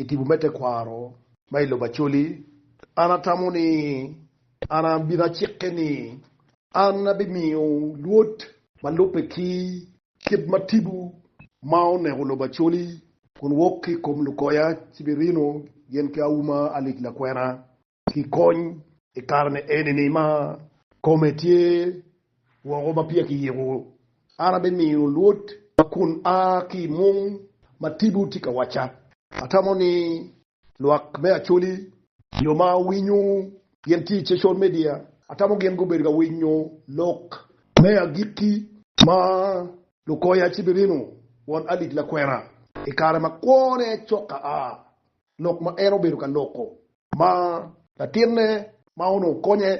I tipo me tekwaro ma i lobo Acholi, an atamo ni an abino acike ni an abimiyo lwod ma lubbe ki kit ma tipo ma oneko lobo Acholi kun wok ki i kom lukoya ci birino gin ki auma Alic Lakwena. ki kony i kare ma enini ma kome tye woko ma peya kiyiko, an abimiyo lwod ma kun a ki i mung ma tipo tye ka wacca. Atamo ni lwak me Acholi, jo ma winyo gin tye i cecol media, atamo gin gubedo ka winyo lok me agikki ma lukoya ci birino won alit lakwena i kare ma kwone cok a. lok ma en obedo ka loko. Ma latinne ma onongo konye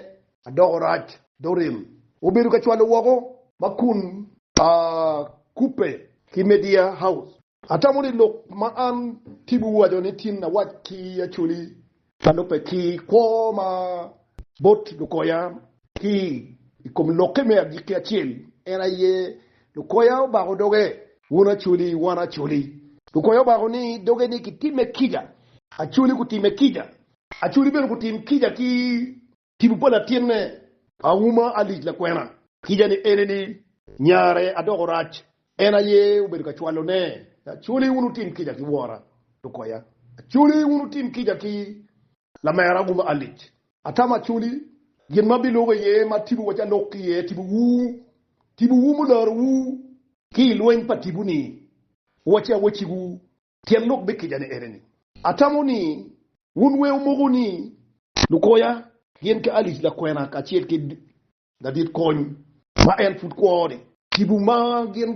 adoko rac, Doreen, obedo ka cwalo woko ma kun a kubbe ki Media House. Atamo ni lok ma an ki biwaco ni tin awac ki Acholi ka lubbe ki kwo ma bot lukoya Ki i kom lokke me agikki acel, en aye lukoya obako doge. Wun acoli, wan acoli. Lukoya obako ni doge ni kitimme kica. Acoli gutimme kica. Acoli bene gutim kica ki. Tipo pa latinne auma alic lakwena. Kica ni ene ni, nyare adoko rac. En aye obedo ka cwalo ne. Acoli wun wutim kica ki wora. Lukoya, Acoli wun wutim kica ki lamera aguba alic. Atamo acoli, gin ma bilubo iye ma tipo waco alok ki iye, tipowu, tipowu mularowu. Ki i lweny pa tipo-ni, waci awacciwu. Tyen lok me kica-ni ene ni. Atamo ni wun weu moko ni. Lukoya, gin ki alic lakwena kacel ki. ladit kony ma en pud kwo-ni. Tipo ma gin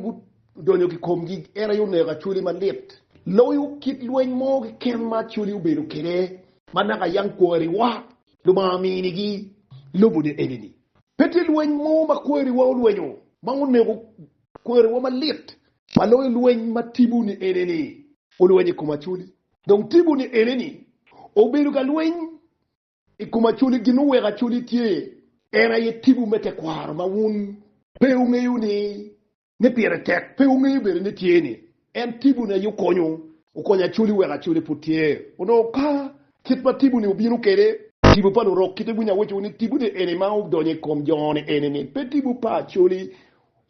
gudonyo ki komgi en aye oneko Acholi malit loyo kit lweny mo keken ma Acholi obedo kwede ma naka yam kwariwa Lubanga ominigi lobone enini. Pe tye lweny mo ma kwariwa olwenyo ma oneko kwariwa malit ma loyo lweny ma tipo-ni enini olwenyo i kom Acholi. Dong tipo-ni enini obedo ka lweny I kom acoli gin muweko acoli tye, en aye tibu me tekwaro ma wun. Pe wungeyo ni, ni pire tek, pe wungeyo bene ni tye ni, en tibu ni aye okonyo, okonyo acoli weko acoli pud tye. Onongo ka kit ma tibu ni obino kede, tibu pa lurok kite winyo awecowu ni tibu ni eni ma odonyo i kom jo ni eni ni pe tibu pa acoli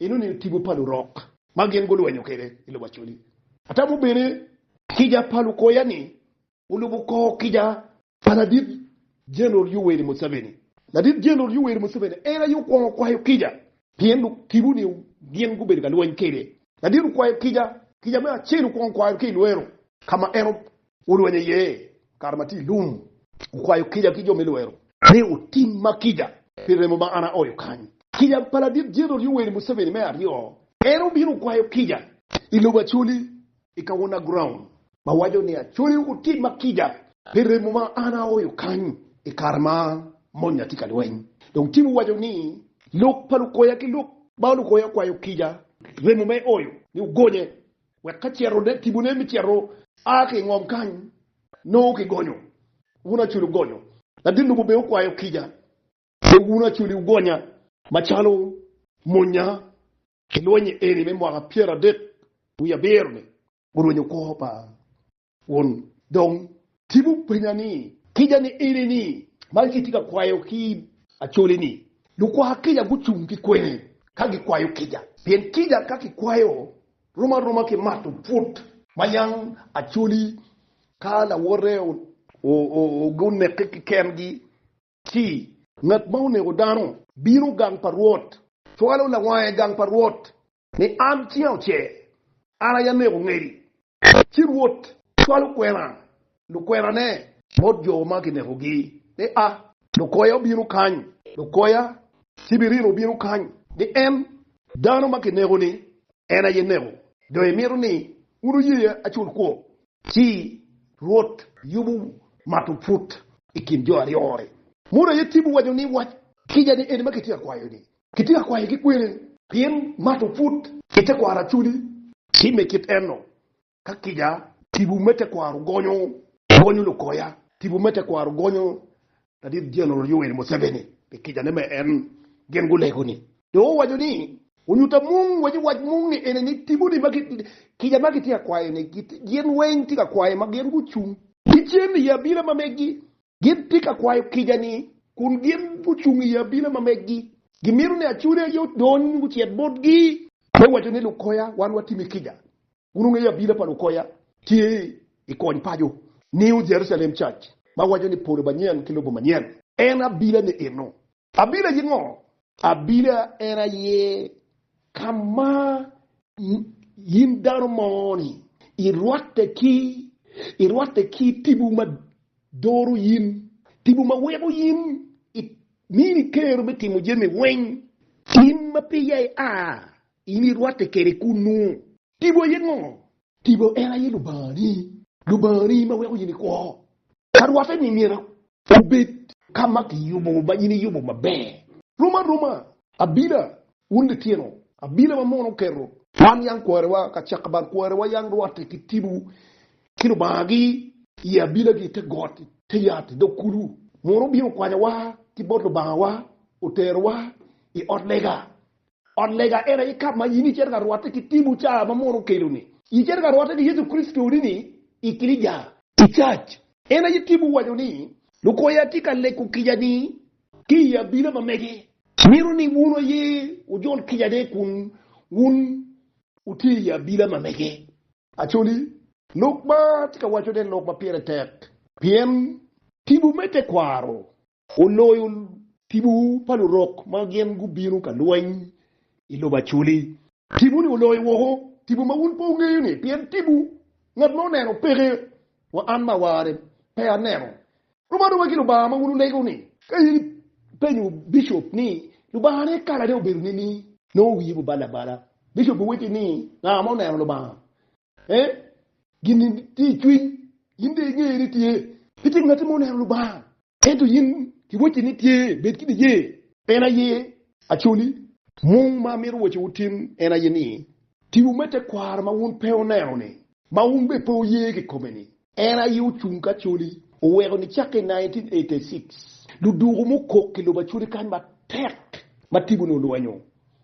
eno ni tibu pa lurok ma gin gulwenyo kede i lobo acoli. Atamo bene kica pa lukoya ni, wulubu kor kica Pa Ladit Jeneral Yoweri Museveni. Ladit Jeneral Yoweri Museveni en aye okwongo kwayo kica. Pien lok tibu ni gin gubedo ka lweny kede. Ladit okwayo kica. Kica me acel okwongo kwayo ki i lwero ka ma en olwenyo iye kare ma tye i lum. Okwayo kica ki jo me lwero. Me otimma kica pi remo ma an aoyo kany. Kica pa Ladit Jeneral Yoweri Museveni me aryo, en obino okwayo kica i lobo Acholi I kawona ground. Ma waco ni Acholi otim ma kica pi remo ma an aoyo kany i kare ma monya tye ka lweny. Dong Tibu waco ni lok pa lukoya ki lok ma lukoya kwayo kica pi remo ma eoyo ni ogonye wek ka cito ne Tibu ne me cito a ki i ngom kany nongo ki gonyo. Wun Acholi ogonyo. Ladit lobo bene okwayo kica wek wun Acholi wugonya macalo monya I lweny-nyi eni me mwaka pyeradek wiye abiro-ni. Gurwenyo kwo pa won dong Tim openya ni. Kica ni eni-ni, man ci itye ka kwayo ki Acholi-ni? Lukwa kica gucung ki kwene ka gikwayo kica, pien kica ka kikwayo rom aroma ki mato pwod ma yang Acholi ka lawote onekke ki kengi Ci. Ngat ma onego dano. Bino gang pa Rwot. Cwalo lawange i gang pa Rwot. Ni an cinga ocer. An aye aneko ngedi. Ci Rwot cwalo kwena, lukwenane. Bot jo ma kinekogi ni, 'A! Lukoya obino kany. Lukoya ci birino obino kany. Ni en, dano ma kineko-ni, en aye neko. Dong imito ni wun wuye acul kwo Ci Rwot yubo mato put i kin jo aryo-ri. Modo aye Cibu owaco ni, Wac kica ni eni ma kitye ka kwayo-ni, kitye ka kwaye ki kwene? Pien mato put i tekwaro aculi. Ci me kit eno, ka kica, tipo me tekwaro gonyo, gonyo lukoya, tipo me tekwaro gonyo Ladit Jeneral Yoweri Museveni pi kica ne ma en gin gulego ni. Dong owaco ni onyuta mung waco wac mung ni ene ni tipo ni ma kica ma gitye ka kwayo ni gin weng tye ka kwayo ma gin gucung. Ki cen i abila ma megi gin tye ka kwayo kica ni kun gin gucung i abila ma megi gimito ni acude aye odony gucit botgi. Me waco ni lukoya wan watimi kica Wun wungeyo abila pa lukoya. Tye i kony paco New Jerusalem Church ma waco ni Polo Manyen ki Lobo Manyen. En abila ni eno. Abila aye ngo? Abila en aye ka ma in dano mo ni i rwatte ki i rwatte ki tibu ma doro in, tibu ma weko in i mini kero me timo jami weng in ma piya i a In irwatte kede kunnu. Tipo aye ngo? Tipo en aye Lubangani. Lubangani ma weko in ikwo. Ka rwatte ni myero obed. Ka ma kiyubo ma in iyubo maber. Rom aroma. Abila, wun litino. Abila ma mono oketo. Wan yam kworewa ka cak bal. Kworewa yam rwatte ki tipo ki Lubangagi i abilagi i te got, i te yat, i dog kulu. Mono obino okwanyowa ki bot Lubangawa, oterowa i ot lega, Ot lega en aye kap ma in icito ka rwotte ki timo caa ma Munu okeloni. Icito ka rwotte ki Yecu Kricito ni ni i kilica, i cac. En aye timo waco ni, Luko ya atye ka leko kica ni ki i abila ma mege. Mito ni wunu aye wujol kica ne kun wun wutye i abila ma mege. Acholi. Lok ma atye ka wacone lok ma pire tek pien tipo me tekwaro oloyo tipo pa lurok ma gin gubino ka lweny i lobo Acholi. Tipo-ni oloyo woko tipo ma wun pe wungeyo-ni pien tipo ngat ma oneno peke, wa an ma awarre pe aneno. Rom aroba ki Lubanga ma wun wulego-ni. Ka in ipenyo bicop ni, 'Lubangane kalane obedo nining? Nongo wiye bubal abala. Bicop biwacci ni, 'Nga ma oneno Lubanga? Ee, gin-ni tye i cwiny. In dong ingeyo ni tye. Pe tye ngatti ma oneno Lubanga. Ento in kiwacci ni tye. Bed ki niye. En aye Acoli. Mung ma amito wacci wutim en aye ni, tiwu me tekwaro ma wun pe wuneno-ni, ma wun bene pe wuye kikome-ni, En aye ocung ki acholi, oweko nicak ki i 1986 luduku mukok ki lobo acholi kany matek ma tibu ni olwenyo,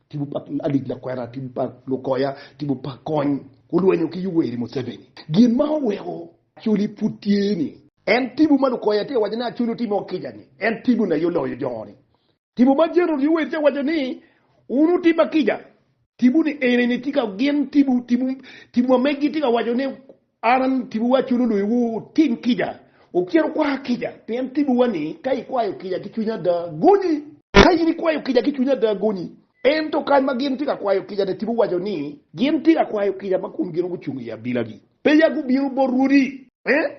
tibu pa Alice Lakwena, tibu pa Lukoya, tibu pa Kony, olwenyo ki Yoweri Museveni. Gin ma oweko acholi pud tye ni. En tibu ma Lukoya tye ka waco ni acholi otimo kica ni en tibu ni aye oloyo jo ni. Tipo ma Jerold Yoweitia waco ni, Wun wutib ma kica, tibu ni eni ni tye ka gin tibu, tibu, tibu ma megi tye ka waco ni, An, tibuwa culo luyiwu wutim kica, wukit wukwa kica, pien tibuwa ni, ka ikwayo kica ki cwinyi ada, gonyi. Ka in ikwayo kica ki cwinyi ada, gonyi. Ento kany ma gin tye ka kwayo kica-ni, tibu waco ni, gin tye ka kwayo kica ma kun gin gucung i abilagi, peya gubino bot rwodi. Ee,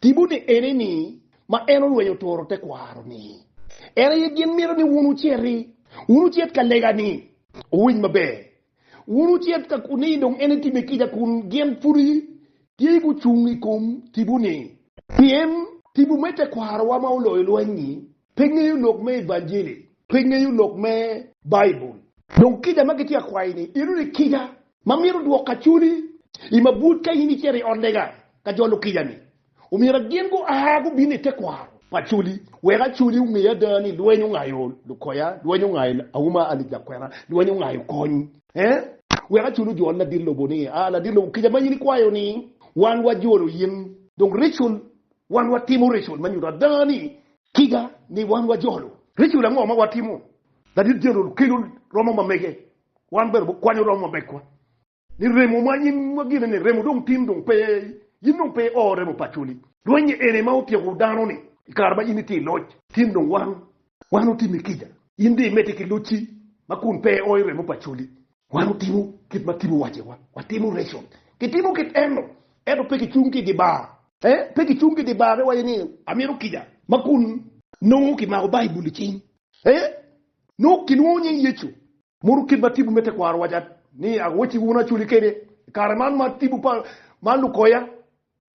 Timone eneni ma en olwenyo turo tekwaro-ni. En aye gin mito ni wun wuciti, wun wucit ka lega-ni. Wuwiny maber, wun wucit ka ni dong en etime kica kun gin pudi tye gucung i kom tipo-ni. Pien tipo me tekwarowa ma oloyo lweny-nyi Pe ngeyo lok me Evanjili. Pe ngeyo lok me Baibul. Dong kica ma gitye ka kwayi-ni, inongo ni kica ma mito dwoko acoli i mabwot ka in icito i ot lega ka jolo kica-ni. Omyero gin gua gubin i tekwaro pa acoli wek acoli onge ada ni lweny ongayo lukoya, lweny ongayo auma alip lakwena, lweny ongayo kony wek acoli ojol ladit lobo ni, aa ladit lobo kica ma in ikwayo-ni wan wajolo in. Dong ritual Wan watimo ritual ma nyuto ada ni. Tiga ni wan wajolo? Ritual ango ma watimo? Ladit jeneral kelo romo ma mege, wan bene wakwanyo romo ma megwa. Ni remo ma in ma gine ni remo dong tin dong pe, in dong pe ioo remo pa Acholi. Rwenye eni ma otyeko dano ni i kare ma in itye i loc. Tin dong wan, wan otimi kica. In dong imedde ki locci ma kun pe ioo i remo pa Acholi. Wan wutimo kit ma Tim owacciwa, watimo reco. Kitimo kit eno, ento pe kicung ki i dye bar. Pe kicung ki i dye bar ka iwaco ni, Amito kica ma kun. Nongo kimako Baibul i cing. Nongo kilwongo nying Yecu. Modo kit ma tipo me tekwaro owaco ni, Agoyo cik wunu acoli kede i kare man ma tipo pa man lukoya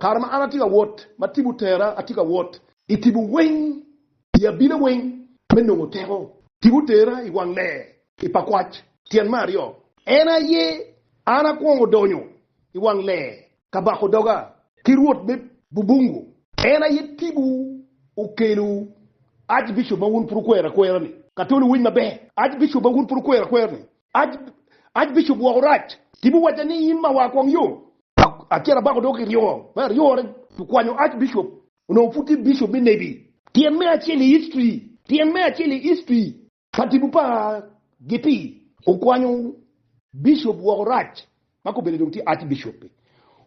Kare ma an atye ka wot, ma tim otera atye ka wot. I timo weng i abina weng me nongo teko. Tim otera i wang lee i pa kwac tyen me aryo. En aye an akwongo donyo i wang lee ka bako doga ki Rwot me bubungu. En aye timwu okelo Archbishop ma wun pud wukwero akwera-ni. Katoli wuwiny maber, Archbishop ma wun pud wukwero akwera-ni Ac bicubo woko rac. Tipo wacca ni in mawa kwong yo. Acel abako doko ki ryo. Me aryone okwanyo Ac bicup. Onongo pud tye bicup me nebi. Tyen me acel i history. Tyen me acel i history. Pa tipo pa Gipii. Okwanyo bicup woko rac. ma kobene dong tye Archbishop-pe,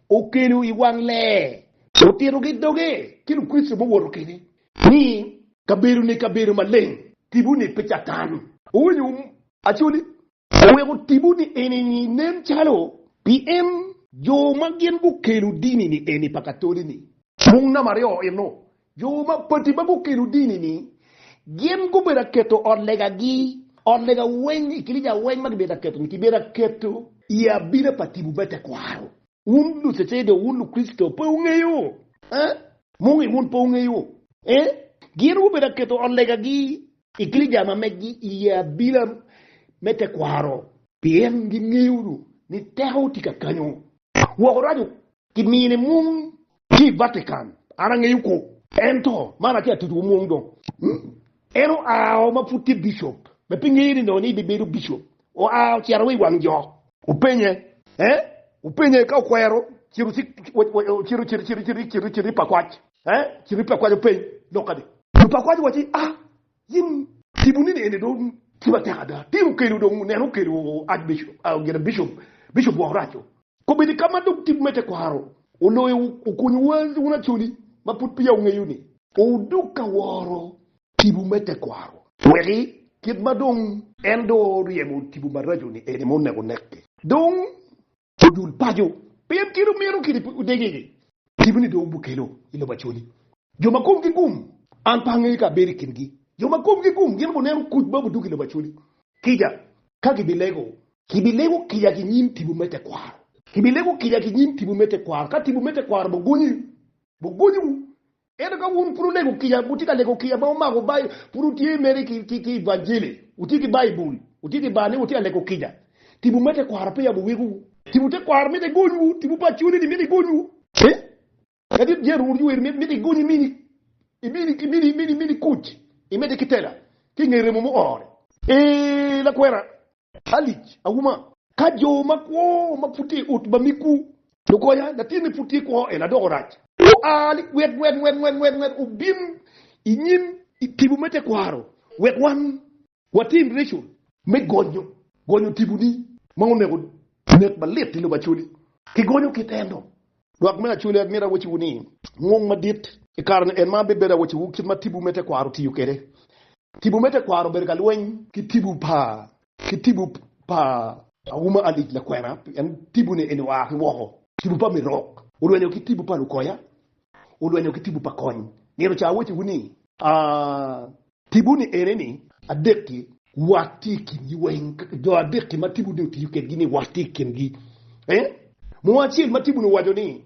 okelo i wang ler otito ki doge ki Lukricito muwoto kene ni, Kabedo-ni kabedo maleng, tipo-ni pe Catan. Owinyo um Acholi oweko tipo-ni eni-ni nen calo pien jo ma gin gukelo dini-ni eni pa Katoli-ni mung namba aryo eno Jo mapadi ma gukelo dini-ni gin gubedo ka keto ot legagi, ot lega weng i kilica weng ma kibedo ka keto-ni kibedo ka keto i abina pa timo me tekwaro. Wun Lucedeok, wun Lukricito, pe wungeyo? Eh? Mungi wun pe wungeyo? Eh? Gin gubedo ka keto ot legagi i kilica ma megi i abina me tekwaro. Pien gingeyo dong ni teko tye kakanyo. Woko raco Kimini mung ki i Vatican, an angeyo kwo. Ento, man atye ka titowu mung dong. En oao ma pud tye bicop, ma pe ngeye ni nongo ni ebibedo bicop, oa ocito wa i wang jok. Wupenye, eh, wupenye ka okwero cito ci ocito, cito, cito, cito, cito, cito i pakwac, eh, cito i pakwac openy lok kadi. Lupakwac owacci, Ah, Gin tipo nini eni dong ki matek ada. Tino okelo dong oneno okelo Archbishop gire Bishop Bishop woko raco. Kobedi ka ma dong tipo me tekwaro oloyo okonyo wa wun Acholi ma pud peya wungeyo ni. Odok ka woro tipo me tekwaro. Weki kit ma dong. En dong oryemo tipo maraco ni eni ma oneko neke. Dong Odul paco, pien kit omiro kidi odegegi. Tipo ni dong obukelo i lobo Acholi. Jo ma komgi gum, an pe angeyo ka abedo i kingi. Jo ma komgi gum gin guneno kuc ma budug i lobo Acholi. Kica, ka gibilego. Kibilego kica ki nyim tipo me tekwaro. Kibilego kica ki nyim tipo me tekwaro, ka tipo me tekwaro bugonyi, bugonyiwu. Ento ka wun pud wulego kica, wutye ka lego kica ma wumako bayi, pud wutye mere ki, ki, evanjili, wutye ki Baibul, wutye ki bal ni wutye ka lego kica, tipo me tekwaro pe yabo wegwu. Tipo tekwaro mitte egonywu, tipo pa cunini mitte egonywu. Ci, ka dit Jerry owoto ci ower ni, Mitte igonyi mini, imini, imini, imini, imini kuc, imedde ki tela, ki i nge remo muore. Ee, lakwena, alic auma. Ka jo makwo ma pud tye i ot ma miggu lukonya, latinni pud tye kwo, en adoko rac. Oa ni, Wek nget nget nget nget nget obin i nyim tipo me tekwaro, wek wan watim reco me gonyo gonyo tiponi ma onego nek malit i lobo Acholi. Kigonyo kit ento, lwak me Acholi, an myero awacciwu ni, ngong madit i kare-ni en ma abibedo awacciwu kit ma tipo me tekwaro tiyo kwede. Tipo me tekwaro obedo ka lweny ki tipo pa ki tipo pa auma alic lakwena pien tipone eni oa ki woko. Tipo pa mirok olwenyo ki tipo pa lukoya olwenyo ki tipo pa kony nino ca awaciwu ni aa. Tipo ni ene ni adek-ki wat tye i kingi weng jo adek-ki ma tipo ni otiyo kedgi ni wat tye i kingi ee munu acel ma tipo ni owaco ni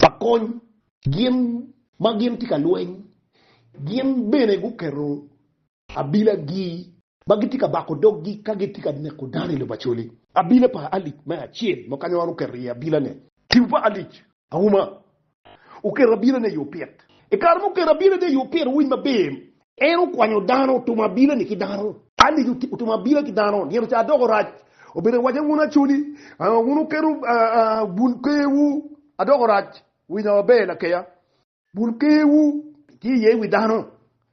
pa kony gin ma gin tye ka lweny, gin bene guketo abilagi ma gitye ka bako doggi ka gitye ka neko dano i lobo Acholi. Abila pa Alic me acel ma kanyoro oketo iye abilane. Tipo pa Alic auma oketo abilane i opit. I kare ma oketo abilane i opit, wuwiny maber, En okwanyo dano, otumo abila-ni ki dano. Alic otumo abila ki dano, nino ca adoko rac. Obedo awaca wun acoli, wun wuketo bul kewu, adoko rac. Winya maber lakeya. Bul kewu tye iye i wi dano,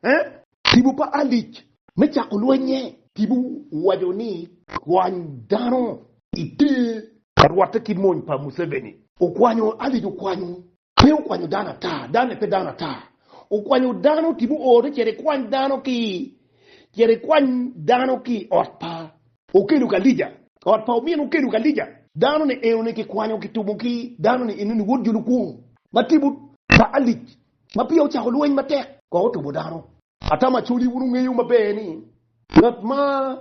eh? Tipo pa Alic me cako lwennye. Tipo owaco ni, Kwany dano iter. Ka rwatte ki mony pa Museveni. Okwanyo, Alic okwanyo. Pe okwanyo dano ata, dano-ni pe dano ata. Okwanyo dano ki muote, cito ikwany dano ki, cito ikwany dano ki i ot pa. Okelo ka Elija, ot pa omin okelo ka Elija. Dano-ni enoni kikwanyo kitumo ki dano-ni enoni wod jo lukwong ma timo. Pa Alic ma peya ocako lweny matek, kong otumo dano. Ata macodi wun wungeyo maber ni ngat ma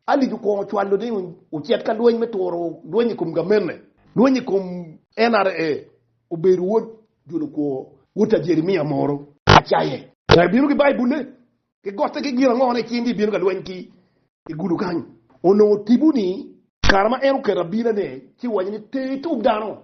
Alic okwongo ocwalo ni ocit ka lweny me turo lweny i kom gamente, lweny i kom NRA, obedo wod julukwo, wod ta Jeremia moro. Acaye. Nga ibino ki Baibul-le? Ki gotte ki gin ango ma icing ni ibino ka lweny ki i gudo kany onongo tipo ni. Kare ma en oketo abina ne ci owaco ni te itub dano,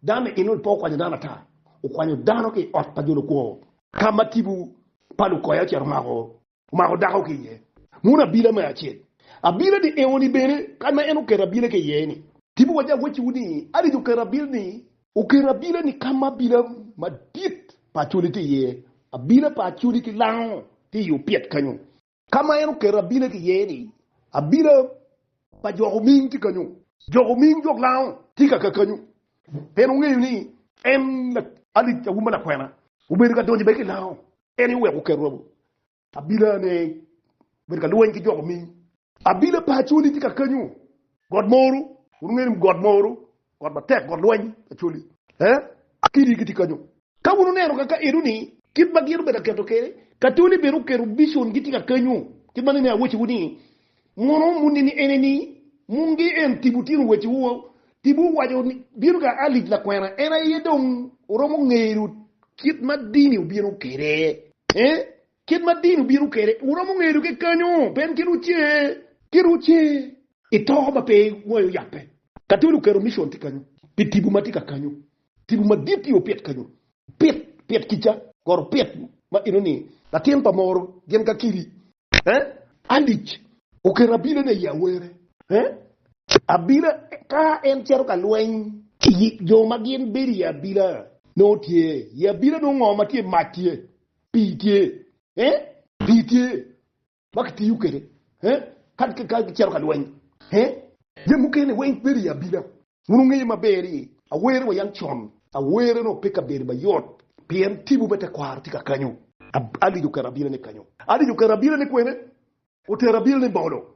dano ni enoni pe okwanyo dano ata, okwanyo dano ki iot pa jo lukwo. Ka ma tipo pa lukoya ocito omako omako dako ki iye, mono abina me acel, abina ni enoni bene kany ma en oketo abina ki iye ni. Tipo waco awacci wu ni adiki oketo abina ni, oketo abina ni ka ma abina madit pa acholi tye iye, abina pa acholi ki lango tye i opyet kenyo. Ka ma en oketo abila ki iye ni, Abila pa jo kuming tye kanyu. Jo kuming jo lango tye ka kakanyu pien wungeyo ni en alic auma lakwena. Wubedo ka donyo bene ki lango en ni wek wuket robo abila ne bedo ka lweny ki jo kuming. Abila pa Acholi tye kakanyu. Got moru, wun wungeyo ni got moru Got matek, got lweny, Acholi. Ee, kidi gitye kanyo. Ka wun wuneno kaka enoni, kit ma gin obedo ka keto kwede, Acholi bene oketo bicon gitye ka kenyo. Kit ma nene awecciwu ni, Mono muni ni eneni, mungi en tibu tino weciwu, tibu owaco ni, bino ga Alic lakwena, en aye dong oromo ngeyo kit ma dini obino kwede. Ee, Kit ma dino bino kwede. Wuromo ngedo ki kanyo. Pien kit wuce. Kit wuce. I to ma pe iwayo yape. Ka tye luketo micon tye kanyo. Pi tibu ma tye ka kanyo. Tibu madit tye opit kanyo. Pit, pit kica. Koro pit ma eno ni. Latin pa moro gin ka kidi. Eh, alic. Oketo abila ne i awere. Eh, abila ka en cito ka lweny. Jo ma gin bedo i abila. Nongo tye. I abila nongo ngo ma tye mac tye. pii tye eh, pii tye ma kitiyo kwede eh, kadi ka ka gicito ka lweny eh, jami mukene weng bedo i abina. Wun wungeyo maber ni awere wa yam con, awere nongo pe ka bedo mayot, pien tipo me tekwaro tye ka kanyo. Alic okero abinane kanyo. Alic okero abinane kwene? Otero abinane bolo.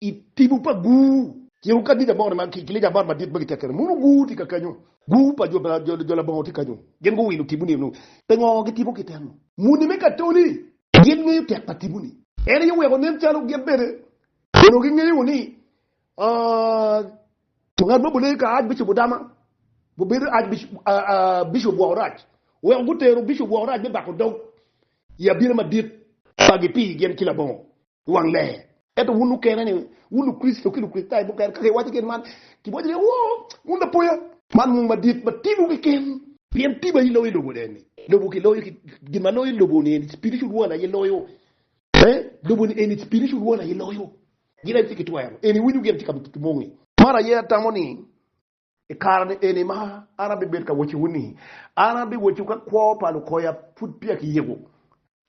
I tibu pa gur. Ciro ka Dija Bor ma ki Lija Bor madit ma gitye kene mono gur tye kakenyo. Gur pa jo labongo tye kenyo. Gin guwilo tibu ni eno. Pe ngo gi tibu ki teno. Muni me katoli gin ngeyo tek pa tibu ni. En aye oweko nen calo gin bene onongo gi ngeyo ni ngat ma bule ka Archbishop Odama obedo Bishop woko rac. Oweko gutero Bishop woko rac me bako dog I abina madit pa gi pi gin ki labongo. wang ler. Ento wun mukene ni wun Lukricito ki Lukricitayo mukene ka kiwaco gin man, kiwaco ni, Woo, wun lapoya! Man mung madit ma timowu keken. Pien pi ma iloyo lobo ne ni, lobo kiloyo ki gin ma loyo lobo ni eni spiritual world aye loyo. Ee, lobo ni eni spiritual world aye loyo. Gin aye tye ki twero. Eni winyo gin tye ka ki mongi. Man aye atamo ni I kare-ni eni ma an abibed ka wacciwu ni, an abiwacciwu ka kwo pa lukoya pud peya kiyiko,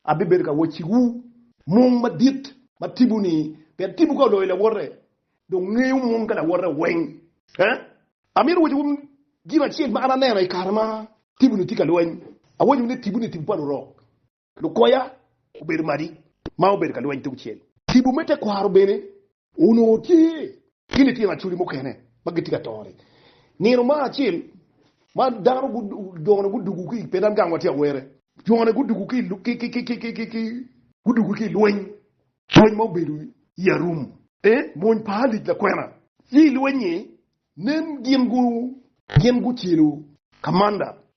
abibedo ka wacciwu mung madit ma tipo-ni, pien tipo ka oloyo lawote, dong ngeyo mung ka lawote weng. Amito wacciwu gin acel ma an aneno i kare ma tipo-ni tye ka lweny, awacciwu ni tipo-ni tipo pa lurok. Lukoya obedo madi ma obedo ka lweny tungcel. Tipo me tekwaro bene onongo tye. Ki litino acholi mukene ma gitye ka tore. Nino mar acel ma dano jone gudugu ki, pe dan gang watye awere. Jone gudugu ki. Gudugu ki i lweny, lweny ma obedo i arum. E, mony pa Alic lakwena. Ci i lweny-nyi, nen gin gu. Gin gucelo kamanda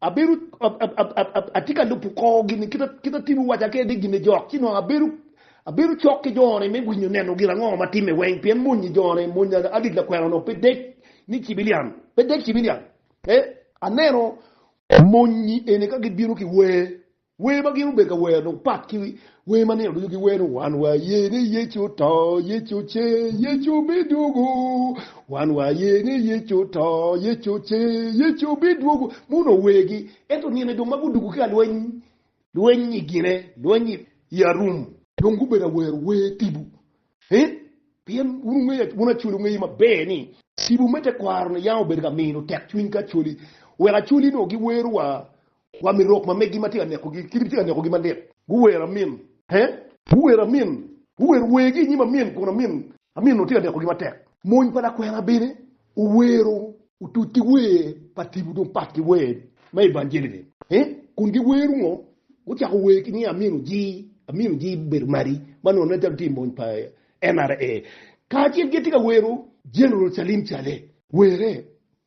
Abedo, atye ka lubo kor gin-ni kit ma Tim owaca kwede, gin-ni jok, ci nongo abedo, abedo cok ki jone me winyo neno gin ango ma timme weng, pien mony-nyi jone, mony adit lakwena-nu pe dec ni cibilian, pe dec cibilian, ee, aneno mony-nyi eni ka gibino ki wer, Wer ma gin obedo ka wero dong pat ki wer ma nino ducu giwero, Wan waye ni Yecu oto, Yecu ocer, Yecu bidwogo. Wan waye ni Yecu oto, Yecu ocer, Yecu bidwogo. Mon onongo wergi, ento nino-ni dong ma gudwogo ki ka lweny, lweny i gine, lweny i arum, dong gubedo ka wero wer tibu, pien wun Acholi wungeyo maber ni tibu me tekwaro-ni yam obedo ka mino tekcwiny ki Acholi, wek Acholi onongo giwero wa Wa mi rok ma meggi ma tye ka nekogi, kit gitye ka nekogi malit. Guwero amin, he! Guwero amin, guwero wergi i nyim amin, kun amin, amin onongo tye ka nekogi matek. Mony pa lakwena bene owero otuc ki wer pa tipo dong pat ki wer me evanjeli-ni, he! Kun giwero ngo? Gucako wer ki ni amin ojii, amin ojii bedo madi, ma nongo nen calo tye i mony pa NRA. Kacel gitye ka wero General Salim Saleh, were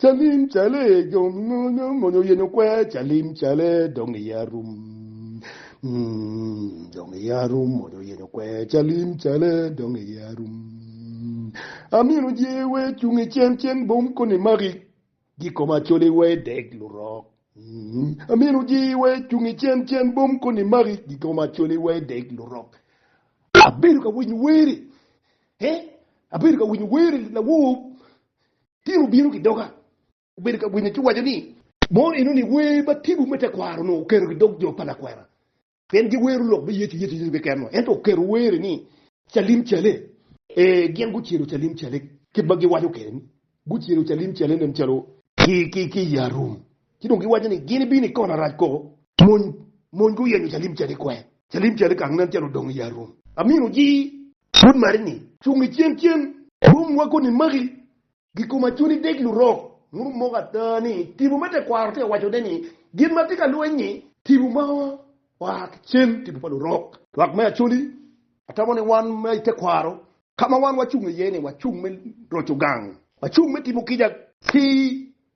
Calim cale dong onongo oyenyo kwer calim cale dong iye arum dong iye arum onongo oyenyo kwer calim cale dong iye arum amino jee wer cung i cen cen bom koni maki gi kom acoli wer deg lurok amino jee wer cung i cen cen bom koni maki gi kom acoli wer deg lurok abedo ka winyo weri eh abedo ka winyo weri lawor Pien wubino ki doga, wubedo ka winyo ci wuwaco ni. Mono enoni wer ma tipo me tekwaro-nu oketo ki dog jo pa lakwena, pien giwero lok me Yecu, Yecu, Yecu keken-nu, ento oketo were ni, Calim cale! Ee, gin gucelo calim cale, kit ma giwaco kwede-ni, gucelo calim cale nen calo. Ki, ki i arum. Ci dong giwaco ni, Gin ibino i kona rac koko? Mony, mony guyenyo calim cale i kwer. Calim cale kang nen calo odong i arum. Amino ji! Pud mari ni. Cung i cen cen. Rum weko ni maki gi koma cuni dek lurok muru moko ata ni tibu me tekwaro tye waco ne ni gin ma tye ka lweny ni tibu ma oa ki cen tibu pa lurok. Lwak me Acholi, atamo ni wan ma i tekwaro ka ma wan wacung iye ni wacung me roco gang, wacung me timo kica ki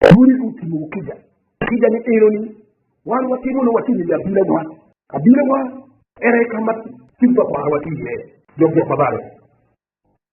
Pwony gu tingo wu kica. Kica ni enoni wan watimo nongo watye ngeyo abila wa. Abila wa ene kama cik pa kwaro wa tye iye. Jok jok ma balo